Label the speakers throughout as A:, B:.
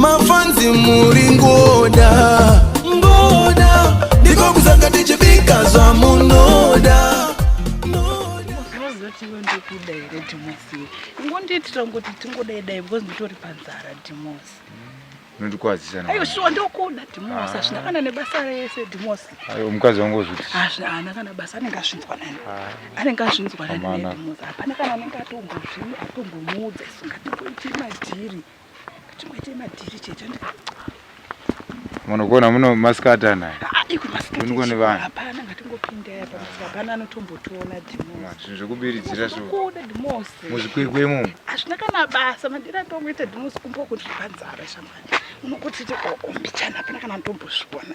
A: mafanzi muri ngoda ngoda ndiko kuzanga tichibika zvamunoda zvozatiwe ndokuda
B: here dhimosi ingondiitira ngoti tingodai dai because nditori panzara dhimosi nondikwazisa
C: ayo shuwa ndokuda
B: dhimosi hazvina ah. kana nebasa rese dhimosi ayo mukadzi wangu
C: ozviti haana kana basa
B: anenge azvinzwa nani ah. anenge azvinzwa nani dhimosi hapana kana anenge atombozvii atombomuudza isingatimboiti madhiri munogona
C: muno masikata naye uniko
B: nevanhu zvinhu zvekubiridzira muzvikwekwemo
C: hazvina kana
B: basa madira atongoita dhimosi kumboko ndiri panzara shamwari unokuti ombichana hapana kana ndombozviona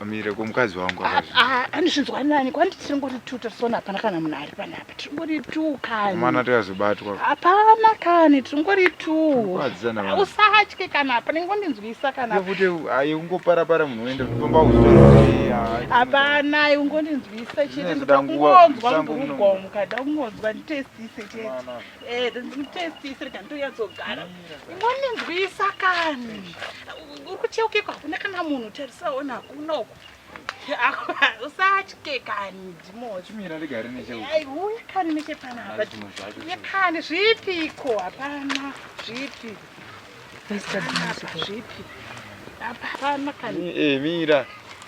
B: amire
C: komukadzi wangu ah, ah, anozvinzwa nani
B: kwandi tiri ngori tu tasona hapana kana munhu ari panapa tiri ngori tu kanimana tikazobatwa
C: hapana kani
B: tiri ngori tu ah,
C: usatye kana hapa
B: ningondinzwisa kanakuti ayi
C: ungoparapara munhu oenda kufamba hapana
B: ungondinzwisa chete ndoda kungonzwa mburugomo kada kungonzwa nditestise chete Eh, testi isiri kani toyatsogara ingoninzwisa kani uri kucheukeko hakuna kana munhu tarisaona hakuna uku usatye kani ndimochimirarigarinecheuya
C: kani
B: nechepanaaye kani zvipiko hapana zvipi zvipi hapana kani eh, mira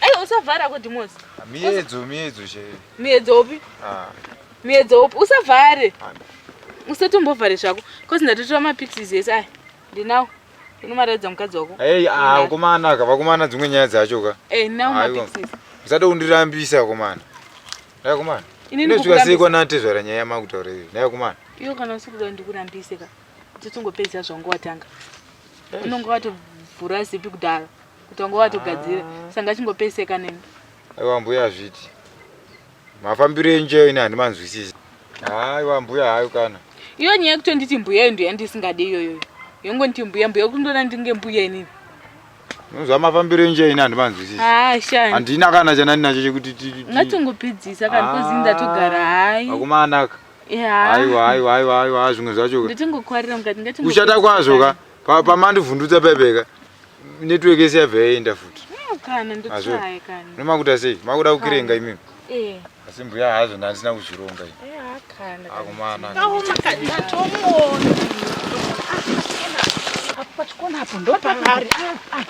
D: Aiwa usavhara ko Dimozi. Miedzo miedzo
C: chaiyo. Miedzo upi?
D: Ah. Miedzo upi? Usavhare. Ah. Usatombovhare zvako. Cause ndatotora mapixies ese aya. Ndinawo. Unomaraidza mukadzi wako. Hey, ah, komana ka,
C: vakomana dzimwe nyaya dzacho ka. Eh, hey, nawo mapixies.
D: Usada kundirambisa
C: komana. Dai komana. Ini ndikukurambisa. Ndikukurambisa kwa nate zvara nyaya makutaura iyo. Dai komana. Iyo kana usikuda
D: ndikurambise ka. Totongopedza zvangu watanga. Unonga watovhura zipi kudaro. kuti wanga watogadzira sanga chingopeseka nemi aiwa mbuya
C: zviti mafambiro enjeyo ini handimanzwisisi aiwa mbuya hayo kana iyo nyaya yekutonditi
D: mbuya iyo ndoyandisingade iyoyo yongonditi mbuya mbuya kundona ndinge mbuya inini nonzwa
C: mafambiro enjeyo ini handimanzwisisi handina
D: kana chandandinacho
C: chekuti ngatongopidzisa
D: kana kozi ndatogara hai akumanaka
C: aiwa aiwa aiwa aiwa zvimwe zvacho nditingokwarira mukati ngati
D: uchata kwazvo ka
C: Pa pamandi vhundutsa pepeka network yese yabva yaenda futi. No kana ndotsaya
D: kana. Nomakuta sei? Makuda
C: kukirenga imimi. Eh. Asi mbuya
D: hazvo ndandisina
C: kuzvironga ini. Eh hakana.
D: Akumana. Awo
C: makadina
B: tomona. Apa pachikona apo ndopavari.